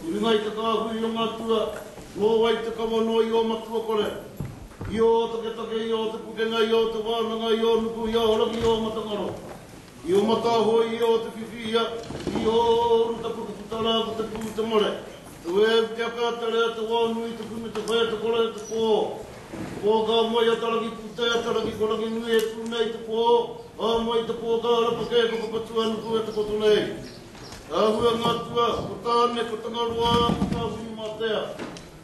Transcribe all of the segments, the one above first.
I runga i te kāhui o ngā tua, nō wai te kawa nō i ō matua kore, i ō taketake, i ō te pukenga, i ō te wānanga, i ō nuku, i ō rangi, i ō matangaro, i ō mataahoi, i ō te whiwhi, ia, i ō ruta puta puta rā ko te pū, te mare, te wēu, te aka, te rea, te wao nui, te kumu, te whea, te kore, te pō, te pō ka moe a Taraki pūtea, a Taraki ko Ranginui e tū nei, te pō, ka moe i te pō ka arapakē, ka whakatū a Nuku e takoto nei. Rāhua ngā tua, ko Tāne, ko Tangaroa, ko Tāwhiri-mātea,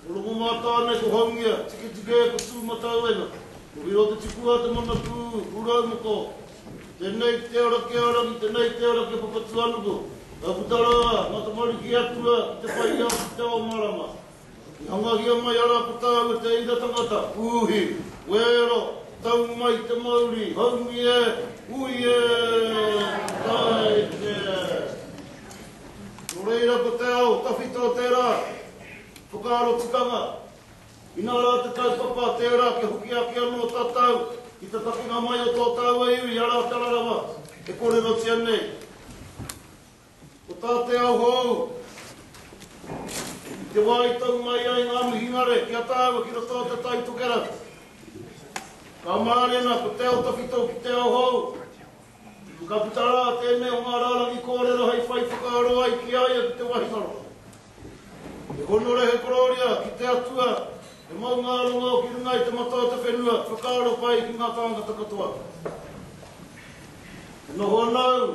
ko Rongomātāne, ko Haungia, Tiketike, ko Tūmatauenga, ko Hirotetipua, Te Manapū, Pūraumoko, Tēnei te ara ki a Rangi, tēnei te ara ki a Papatūānuku, ka puta rā ngā tamariki atua ki te whai ao, ki te ao marama. I hangahia mai a Rapata me te ira tangata, Uhi, wēra, tau mai te mauri, haumi e, hui e, tae e. Nō reira ko te ao tawhito tērā whakaaro tikanga. Inā rā te kaupapa tērā kia hoki ake anō tātou ki te takenga mai o tō tāua iwi arā te rarawa e kōrerotia nei. Ko tā te ao hou, i te wā i tau mai ai ngā mihingare ki a tāua ki roto o Te Tai Tokerau, ka mārena ko te ao tawhito ki te ao hou. Tuku ka puta rā tēnei o ngā rārangi kōrero hei whai whakaaro ai ki a ia ki te wahingaro. He honore, he korōria ki te Atua, he maungārongo ki runga i te mata o te whenua, whakaaro pai ki ngā tāngata katoa. E noho ana au,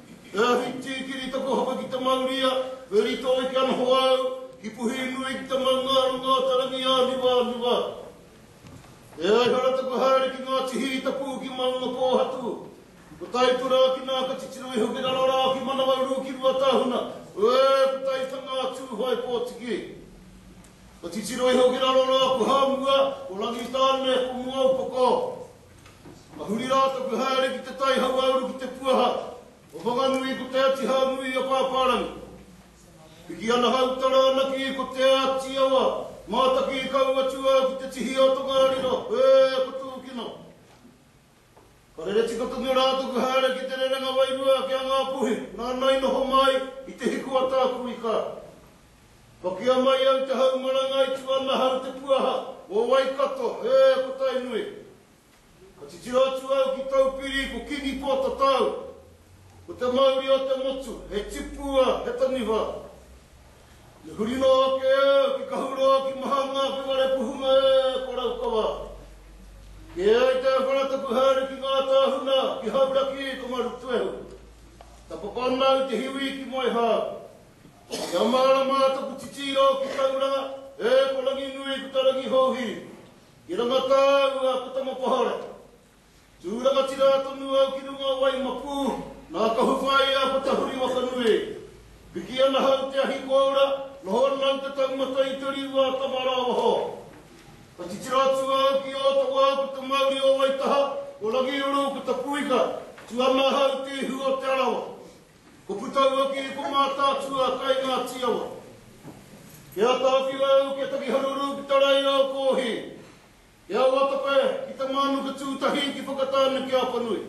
He ahi tīkiri taku hapa ki te mauria, he rito eke anho au, ki puhi nui ki te maungārongo o te rangi āniwāniwa. E ai hara taku haere ki Ngāti Hī taku uki maungapōhatu, ko Taipura ki nā ka titiro iho ki raro rā ki Manawaru ki Ruatāhuna, ē, ko Taitanga a Tūhoe Pōtiki. Ka titiro iho ki raro rā ko Hāmua, ko Rangitāne, ko Muaupoko. Ka huri rā taku haere ki te tai hauāuru ki te puaha o Whanganui ko Te Ati Hau Nui a Pāpārangi. Piki ana hau tara anaki ko Te Ati Awa, mātaki kau atu au ki te tihi o Tongariro, ē, ko Tūkino. Ka rere tika tonu rā taku haere ki te rerenga wairua ki a Ngāpuhi, nāna i noho mai i te hiku a Tākuikā. Pakia mai au te hau marangai ki wana hau te puaha o Waikato, ē, ko Tainui. Ka titiro atu au ki Taupiri, ko Kingi Pōtatau, ko te mauri o te motu, he tipua, he taniwha. Me huri noa ake au ki Kahuroa, ki Mahanga, ki Warepuhunga, ē, ko Raukawa. Kē ai te wharatapu haere ki ngā tāhuna, ki Hauraki, ko Marutuehu. Tapakona au te hiwi ki Moehau. Kia māra mā taku titiro ki tau rā, e ko Ranginui ko ta Rangihouhiri. Ki ranga tāu a ko Tamapahere. Tū rangatira tonu au ki runga o Waimapū, nā Kahuwhāi a ko Tahuri Wakanui. Piki ana hau te ahi kōura, noho ana au te taumata i te riu a Tamarāwaho. Ka titiro atu au ki Ōtawa ko te mauri o Waitaha, ko Rangiuru ko Tapuika, tū ana hau te ihu o Te Arawa. Ko Putauaki i ko Mātaatua kai Ngāti Awa. Kia ata awhi au ki a Takiharuru ki Taraiaokoohi, ki a Watope, ki Te Mānuka Tūtahi ki Whakatāne ki Apanui.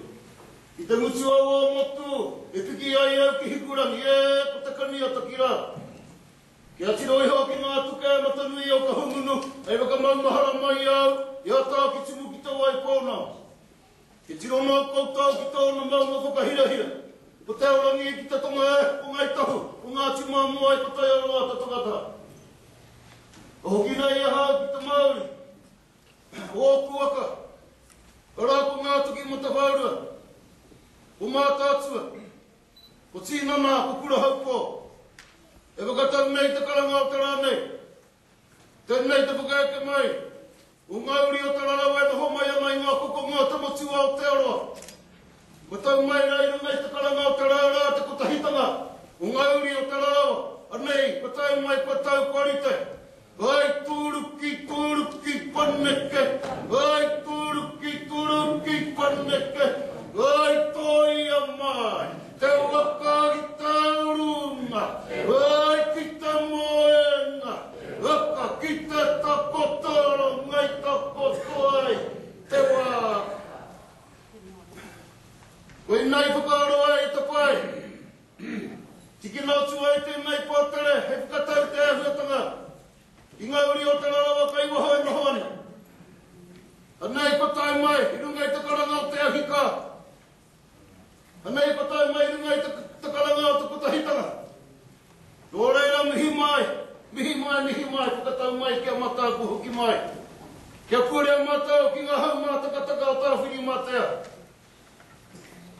I te ngutu au o Motu e piki ai au ki Hikurangi e ko Te Kaniataki rā. Kia tiro iho ki ngā tuke a Matanui o Kahungunu hei whakamaumahara mai au i a Tākitimu ki Te Waipōnao. He tiro mau koutou ki tōna maunga whakahirahira. Ko Te Aorangi e kita tonga e, ko Ngāi Tahu, ko Ngāti Māmoa e ko Taiaroa ta tangata. Ka hoki nei ahau ki te Māori, ko ōku waka, arā ko Ngātoki Matawhaurua, ko Mātaatua, ko Tīnana, ko Kurahaukō. E whakatau nei te karanga o te rā nei, Tēnei te whakaeke mai o ngā uri o Te Rarawa e noho mai ana i ngā kokonga o Te Motu a Aotearoa. Kua tau mai rā i runga i te karanga o Te Rā Rā te kotahitanga o ngā uri o Te Rarawa, anei, kua tau mai, kua tau, kua rite. Hai tūruki, tūruki, paneke, hai tūruki, tūruki, paneke, hai tōia mai. Te whakaari taurunga, ai ki te moenga, aka ki te takoto ngai takoto ai te wā. Koinā i whakaaro ai i te whai. Tikina atu ai tēnei pātere hei whakatau i te āhuatanga i ngā uri o te rarawa kai waho e noho ana. Anei patai mai i runga i te karanga o te ahi ka. Ana i patai mai i runga i te karanga o te Kotahitanga. Nō reira mihi mai, mihi mai, mihi mai, whakatau mai ki a matou kua hoki mai. Kia purea matou ki nga hau mātakataka o Tawhirimatea.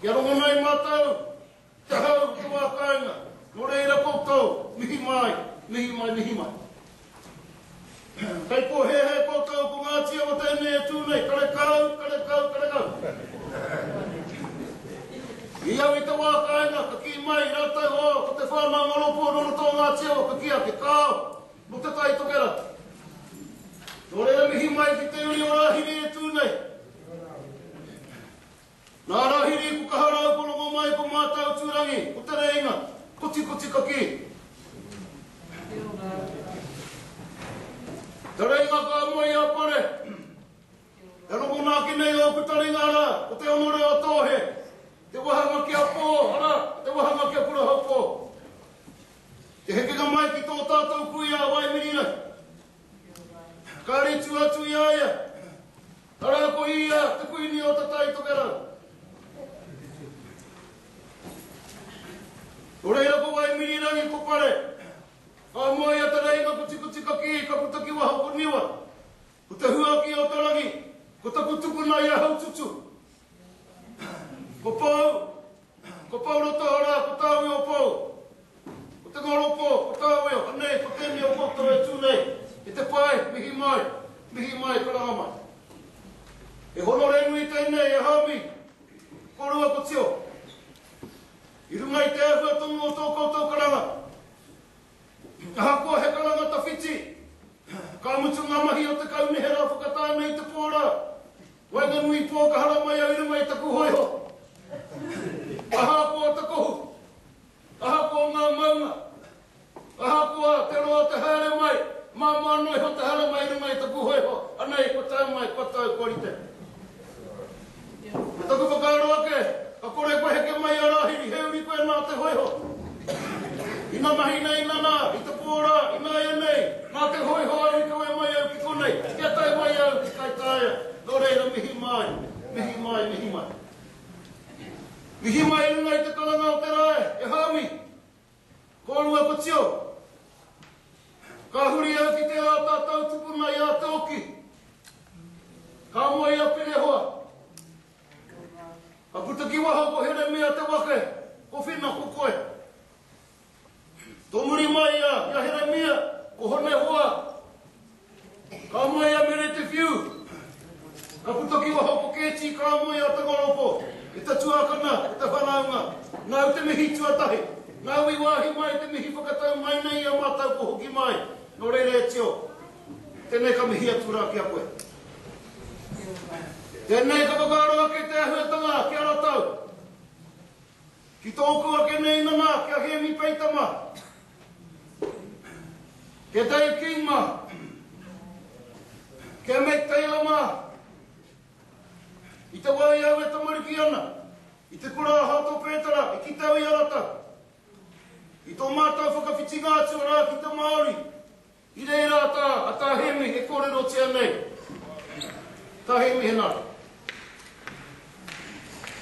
Kia rongonai matou. Tahau ki wā kāinga, nō reira koutou, mihi mai, mihi mai, mihi mai. Kei pōhēhē koutou ko ngā tīawa tēnei e tū nei, karekau, karekau, karekau. I au i te wā kāinga, ka kī mai rātou, oh, ko te whānau Ngoropu nō roto o ngā tīawa ka kī ake, kāo, nō Te Tai Tokerau. Nō reira mihi mai ki te uri o Rāhiri e tū nei. Ngā Rahiri, ko kaha rāu ko rongo mai ko mātau tūrangi, ko Te Rēinga, kotikoti ka kī. Te Rēinga ka moe i a Pare. E rongona ake nei ōku taringa arā, ko Te Onore o Tōhe, te wahanga ki a Pō, arā, te wahanga ki a Kurahopō. Te hekenga mai ki tō tātou kui a Waimirirai. Ka ritua atu i a ia. Arā ko ia te kuini o Tatai Tokerau. Nō reira ko Waimirirangi ko Pare, ka moe i a Te Reinga ko Tikutikakiī ka puta ki waho ko Niwa, ko te huaki o te rangi, ko taku tukuna i a Haututu. Ko Pou, Ko Pouroto arā, ko tāuiu o Pou. Ko te ngoropo, ko tāuiu, anei, ko tēnei o koutou e tū nei, ki te pae, mihi mai, mihi mai, karanga mai. He honore nui tēnei e Hami, ko rua ko Tio. I runga i te āhua tonu o tō koutou karanga, ahakoa he karanga tawhiti, ka mutu ngā mahi o te kaunihera whakatā nei te pō rā. Waenganui pō ka hara mai au i runga i taku hōiho. Ahakoa te kohu, ahakoa ngā maunga, ahakoa te roa te haere mai, māmā noa iho te hara mai i runga i taku hōiho, anei kua tae mai, kua tau, kua rite. Ko taku whakaaro ake, ka kore koe heke mai i a Rāhiri, he uri koe nā te hōiho, Ina mahi nei, nana, i te pō rā, ināianei, nā te hōiho au i kawe mai au ki konei, kia tae mai au ki Kaitaia. Nō reira, mihi mai, mihi mai, mihi mai. Mihi mai i runga i te karanga o te rā e Hāui. Kōrua ko Tio. Ka huri au ki tērā tātou tupuna i a Tōki. Ka moe i a Pirehoa. Ka puta ki waho ko Heremia te wake, ko Whina ko koe. Tō muri mai ia ki a Heremia, ko Honehoa. Ka moe a Meretewhiu. Ka puta ki waho ko Kēti, ka moe a Tangalopo, e te tuakana, e te whanaunga. Nāu te mihi tuatahi, nāu i wāhi mai te mihi whakatau mai nei i a mātou ko Hoki Mai, nō reira e Tio. Tēnei ka mihi atu rā ki a koe. Tēnei ka whakaaro ake te āhuatanga ki a ratou. Ki tōku ake nei nana ki a Hēmi Peita ma. Ki a Dave King ma. Ki a Matt Taylor ma. I te wā i au e tamariki ana, i te kura a Hato Pētara i kite au i a ratou. I tō mātou whakawhitinga atu rā ki te Māori. I reira tā a Tā Hemi e kōrerotia nei. Tā Hemi, he nā.